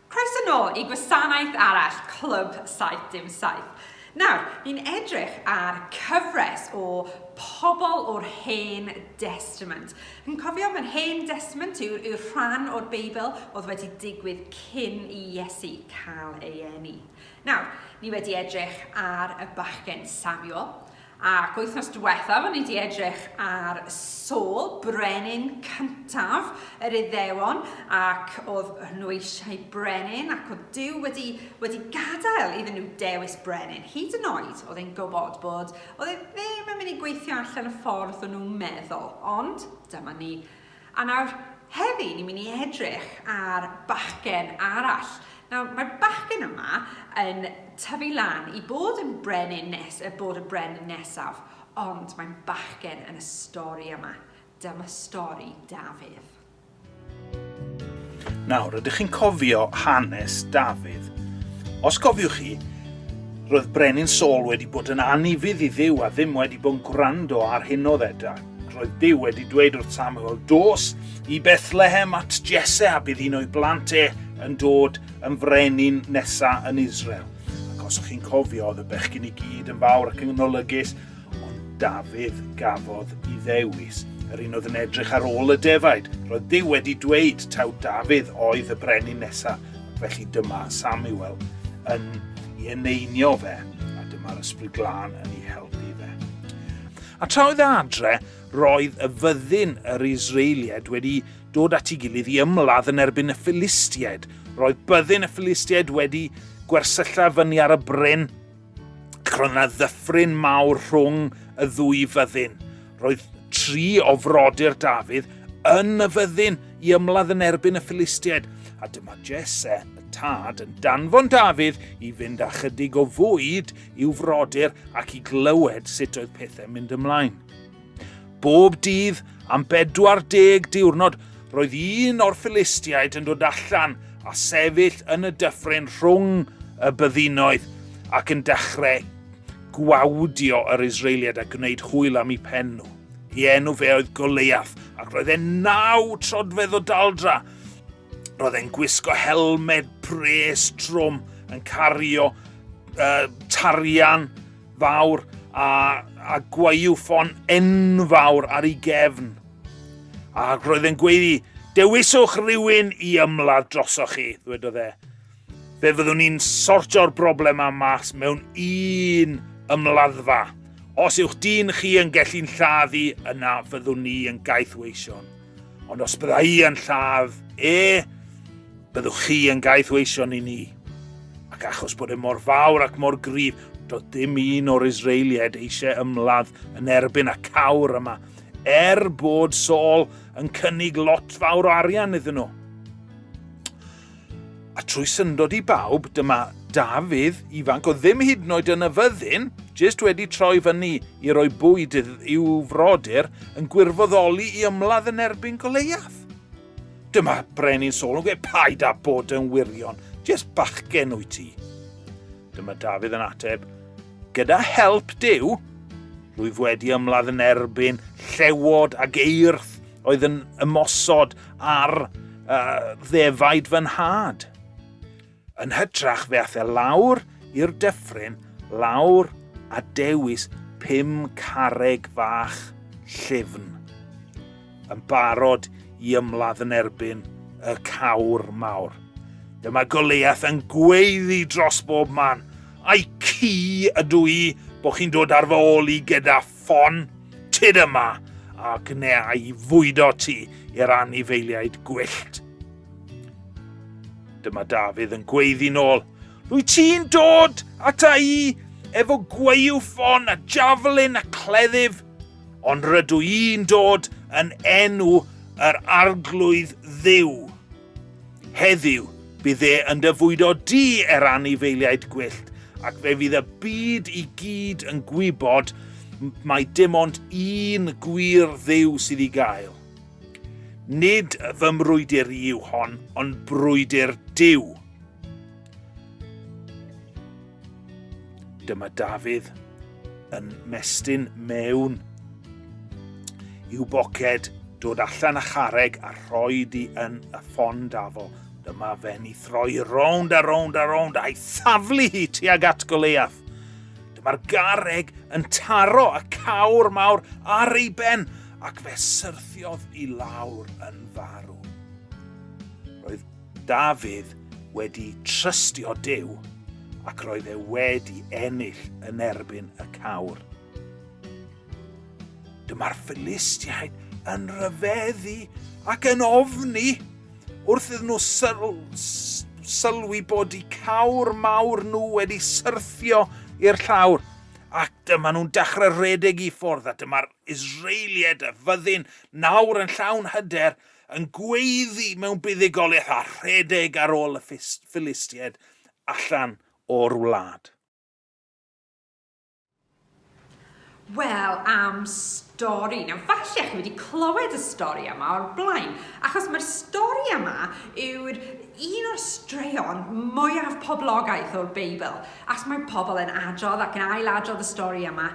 Croeso nôl i gwasanaeth arall, Clwb 77. Nawr, ni'n edrych ar cyfres o pobl o'r Hen Testament. Yn cofio, mae'r Hen Testament yw'r yw rhan o'r Beibl oedd wedi digwydd cyn i Iesu cael ei eni. Nawr, ni wedi edrych ar y bachgen Samuel, ac wythnos diwethaf ni wedi edrych ar Saul, brenin cyntaf yr Iddewon, ac oedd nhw eisiau brenin, ac oedd Dyw wedi, wedi gadael iddyn nhw dewis brenin. Hyd yn oed, oedd e'n gwybod bod oedd e ddim yn mynd i gweithio allan y ffordd o'n nhw'n meddwl, ond dyma ni A nawr, heddi ni'n mynd i edrych ar bachgen arall. Nawr, mae'r bachgen yma yn tyfu lan i bod yn brenin nes, y bod y brenin nesaf, ond mae'n bachgen yn y stori yma. Dyma stori Dafydd. Nawr, ydych chi'n cofio hanes Dafydd? Os cofiwch chi, roedd Brenin Saul wedi bod yn anifydd i ddiw a ddim wedi bod yn gwrando ar hyn o ddedau. Roedd Dyw wedi dweud wrth Samuel, Dos i Bethlehem at Jesse a bydd un o'i blant e yn dod yn frenin nesa yn Israel. Ac os ych chi'n cofio, oedd y bechgyn i gyd yn fawr ac yn olygus, ond Dafydd gafodd i ddewis. Yr un oedd yn edrych ar ôl y defaid. Roedd Dyw wedi dweud taw Dafydd oedd y brenin nesa, felly dyma Samuel yn ei eneinio fe, a dyma'r ysbryd glân yn ei helpu fe. A tra oedd e adre, roedd y fyddin yr Israelied wedi dod at ei gilydd i ymladd yn erbyn y Philistiaid. Roedd byddin y Philistiaid wedi gwersylla fyny ar y bryn, ac roedd yna ddyffryn mawr rhwng y ddwy fyddin. Roedd tri o frodyr Dafydd yn y fyddin i ymladd yn erbyn y Philistiaid, a dyma Jesse, y tad, yn danfon Dafydd i fynd â chydig o fwyd i'w frodyr ac i glywed sut oedd pethau'n mynd ymlaen. Bob dydd am 40 diwrnod roedd un o'r Philistiaid yn dod allan a sefyll yn y dyffryn rhwng y byddinoedd ac yn dechrau gwawdio yr Israeliad a gwneud hwyl am ei pen nhw. I enw fe oedd Goleiaf, ac roedd e'n naw trodfedd o daldra, Roedd e'n gwisgo helmed pres trwm yn cario uh, tarian fawr a, a gwaywffon enfawr ar ei gefn. A roedd e'n gweiddi, dewiswch rhywun i ymladd drosoch chi, ddwedodd e. Fe fyddwn ni'n sortio'r broblem am mas mewn un ymladdfa. Os yw'ch dyn chi yn gellu'n lladd i, yna fyddwn ni yn gaethweision. Ond os bydda i yn lladd e, byddwch chi yn gaethweision i ni. Ac achos bod e mor fawr ac mor gryf, do dim un o'r Israelied eisiau ymladd yn erbyn y cawr yma, er bod Saul yn cynnig lot fawr o arian iddyn nhw. A trwy syndod i bawb, dyma Dafydd ifanc oedd ddim hyd yn oed yn y fyddin, jyst wedi troi fyny i roi bwyd i'w frodyr, yn gwirfoddoli i ymladd yn erbyn Goleiath. Dyma brenin Saul yn gweud, paid â bod yn wirion, jyst bachgen wyt ti. Dyma Dafydd yn ateb, gyda help Duw, rwyf wedi ymladd yn erbyn llewod ac eirth Oedd yn ymosod ar uh, ddefaid fy nhad. Yn hytrach fe ath e lawr i'r dyffryn, lawr a dewis pum carreg fach llyfn, yn barod i ymladd yn erbyn y cawr mawr. Dyma Goliath yn gweiddi dros bob man, Ai ci ydw i bod chi'n dod ar fy ôl i gyda ffon tyd yma a gwnea i fwydo ti i'r anifeiliaid gwyllt. Dyma Dafydd yn gweiddi'n ôl. Rwy ti'n dod ata i efo gweiw ffon a javelin a cleddyf, ond rydw i'n dod yn enw yr arglwydd ddiw. Heddiw, bydd e yn dy fwydo di er anifeiliaid gwyllt, ac fe fydd y byd i gyd yn gwybod mae dim ond un gwir dduw sydd i gael. Nid fy mrwydr i yw hon, ond brwydr Duw. Dyma Dafydd yn mestyn mewn i'w boced, dod allan a chareg a rhoi di yn y ffon dafo. Dyma fe'n i throi rownd a rownd a rownd a'i thaflu hi tuag at Goleiaf. Dyma'r gareg yn taro y cawr mawr ar ei ben ac fe syrthiodd i lawr yn farw. Roedd Dafydd wedi trystio Duw ac roedd e wedi ennill yn erbyn y cawr. Dyma'r Philistiaid yn rhyfeddu ac yn ofni wrth iddyn nhw syl sylwi bod y cawr mawr nhw wedi syrthio i'r llawr ac dyma nhw'n dechrau rhedeg i ffwrdd a dyma'r Israeliad a fyddin nawr yn llawn hyder yn gweiddi mewn buddugoliaeth a rhedeg ar ôl y Ffilistiaid allan o'r wlad. Wel, am stori. Nawr, falle chi wedi clywed y stori yma o'r blaen, achos mae'r stori yma yw'r un o'r straeon mwyaf poblogaeth o'r Beibl, achos mae pobl yn adrodd ac yn ail-adrodd y stori yma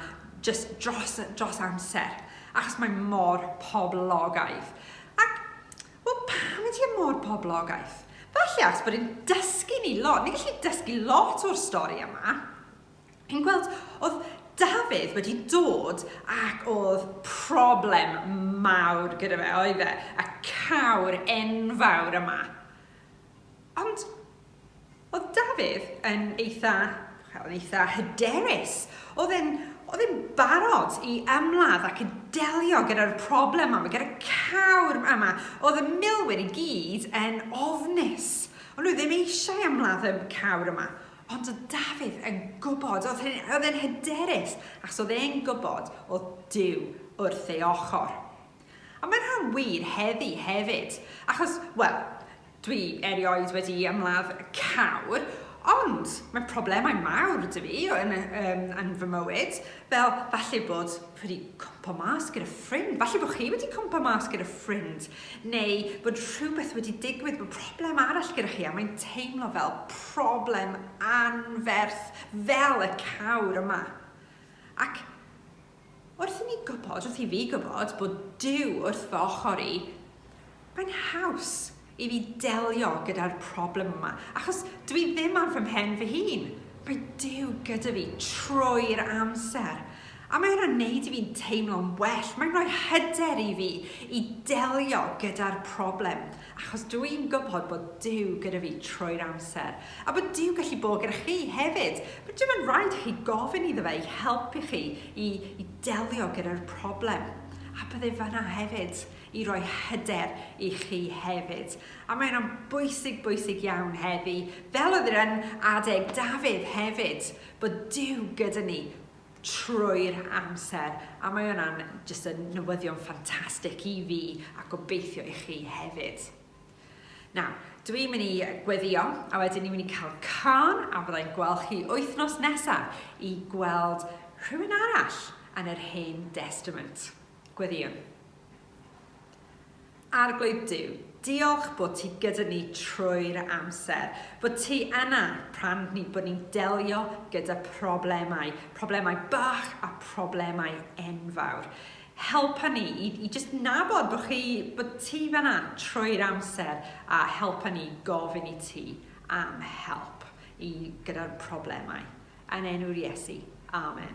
just dros, dros amser. Achos mae mor poblogaidd. Ac, wel, pam ydy e mor poblogaidd? Falle achos bod e'n dysgu ni lot. Ni'n gallu dysgu lot o'r stori yma. Yn gweld, oedd Dafydd wedi dod ac oedd problem mawr gyda fe, oedd e? Y cawr enfawr yma. Ond oedd Dafydd yn eitha, wel, yn eitha hyderus. Oedd e'n, oedd e'n barod i ymladd ac i delio gyda'r problem yma, gyda cawr yma. Oedd y milwyr i gyd yn ofnus. Ond nhw ddim eisiau ymladd y cawr yma. Ond oedd Dafydd yn gwybod, oedd e'n hyderus, ac oedd e'n gwybod oedd Dyw wrth ei ochr. A mae'n rhan wir heddi hefyd, achos, wel, dwi erioed wedi ymladd cawr, ond mae problemau mawr 'da fi yn, um, yn fy mywyd, fel falle bod wedi cwmpa mas gyda ffrind, falle bod chi wedi cwmpa mas gyda ffrind, neu bod rhywbeth wedi digwydd, bod problem arall gyda chi, a mae'n teimlo fel problem anferth, fel y cawr yma. Ac Wrth i ni gwybod, wrth i fi gwybod bod Duw wrth fy ochr i, mae'n haws i fi delio gyda'r problem yma, achos dw i ddim ar fy mhen fy hun. Mae Duw gyda fi trwy'r amser. A mae hynna'n neud i fi'n teimlo'n well. Mae'n rhoi hyder i fi i delio gyda'r problem. Achos dw i'n gwybod bod Duw gyda fi trwy'r amser, a bod Duw gallu bod gyda chi hefyd. Bod dim yn rhaid i chi gofyn iddo fe i helpu chi i, i delio gyda'r problem. A bydde fanna hefyd i roi hyder i chi hefyd. A mae hynna'n bwysig, bwysig iawn heddi, fel oedd yr yn adeg Dafydd hefyd, bod Duw gyda ni trwy'r amser a mae hwnna'n jyst yn newyddion ffantastig i fi a gobeithio i chi hefyd. Nawr, dw i'n mynd i gweddio a wedyn ni'n mynd i cael can a byddai'n gweld chi wythnos nesaf i gweld rhywun arall yn yr Hen Testament. Gweddïwn. Arglwydd Duw, diolch bod ti gyda ni trwy'r amser, bod ti yna pan ni bod ni'n delio gyda problemau, problemau bach a problemau enfawr. Helpa ni i, i just nabod bod, chi, bod ti fanna trwy'r amser a helpa ni gofyn i ti am help i gyda'r problemau. Yn enw'r Iesu. Amen.